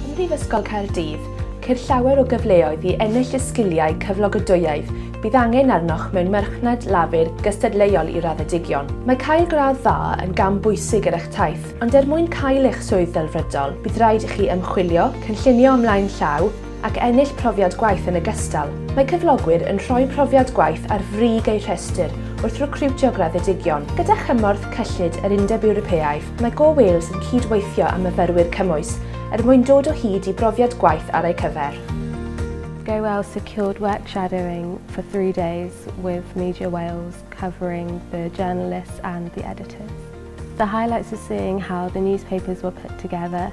Ym Mhrifysgol Caerdydd, ceir llawer o gyfleoedd i ennill y sgiliau cyflogadwyaidd bydd angen arnoch mewn marchnad lafur gystadleuol i raddedigion. Mae cael gradd dda yn gam bwysig ar eich taith, ond er mwyn cael eich swydd delfrydol, bydd rhaid i chi ymchwilio, cynllunio ymlaen llaw, ac ennill profiad gwaith yn ogystal. Mae cyflogwyr yn rhoi profiad gwaith ar frig eu rhestr wrth recriwtio graddedigion. Gyda chymorth cyllid yr Undeb Ewropeaidd, mae Go Wales yn cyd-weithio â myfyrwyr cymwys er mwyn dod o hyd i brofiad gwaith ar eu cyfer. Go Wales secured work shadowing for three days with Media Wales covering the journalists and the editors. The highlights are seeing how the newspapers were put together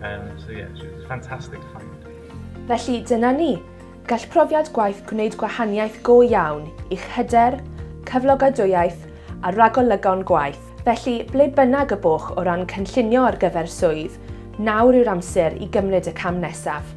Um, so yeah, she was a fantastic client. Felly dyna ni. Gall profiad gwaith gwneud gwahaniaeth go iawn i'ch hyder, cyflogadwyaidd a ragolygon gwaith. Felly, ble bynnag y boch o ran cynllunio ar gyfer swydd, nawr yw'r amser i gymryd y cam nesaf.